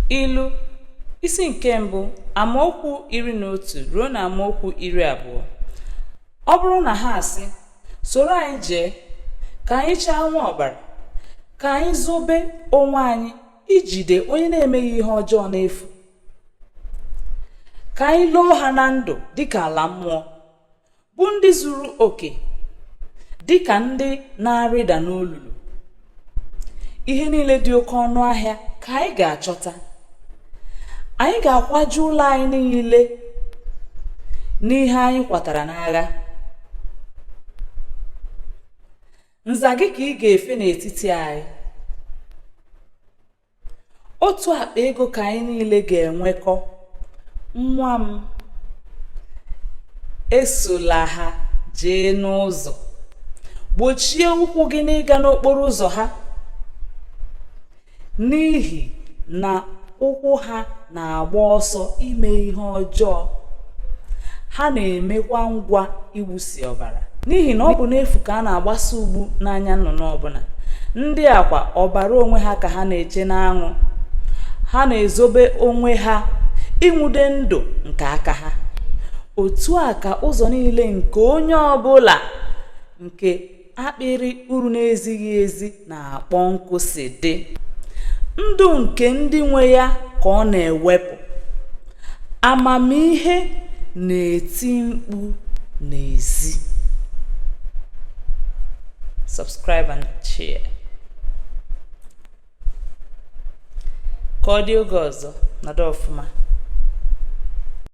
ilu isi nke mbụ amaokwu iri na otu ruo na amaokwu iri abụọ ọ bụrụ na ha asị soro anyị jee ka anyị chaa nwa ọbara ka anyị zobe onwe anyị ijide onye na-emeghị ihe ọjọọ n'efu ka anyị loo ha na ndụ dịka ala mmụọ bụ ndị zuru oke dị ka ndị na-arịda n'olulu ihe niile dị oke ọnụ ahịa ka anyị ga-achọta anyị ga-akwaju ụlọ anyị niile n'ihe anyị kwatara n'agha nza gị ka ị ga-efe n'etiti anyị otu akpa ego ka anyị niile ga-enwekọ nwa m esola ha jee n'ụzọ gbochie ụkwụ gị n'ịga n'okporo ụzọ ha n'ihi na ụkwụ ha na-agba ọsọ ime ihe ọjọọ ha na-emekwa ngwa ịwụsi ọbara n'ihi na ọ bụ n'efu ka a na-agbasa ugbu n'anya nnụnụ ọbụla ndị a kwa ọbara onwe ha ka ha na-eche n'anwụ ha na-ezobe onwe ha ịnwụde ndụ nke aka ha otu a ka ụzọ niile nke onye ọbụla nke akpịrị uru na-ezighị ezi na-akpọ nkụ si dị ndụ nke ndị nwe ya ka ọ na-ewepụ amamihe na-eti mkpu n'ezi subscribe and share ka ọ dị oge ọzọ nọdụ ọfụma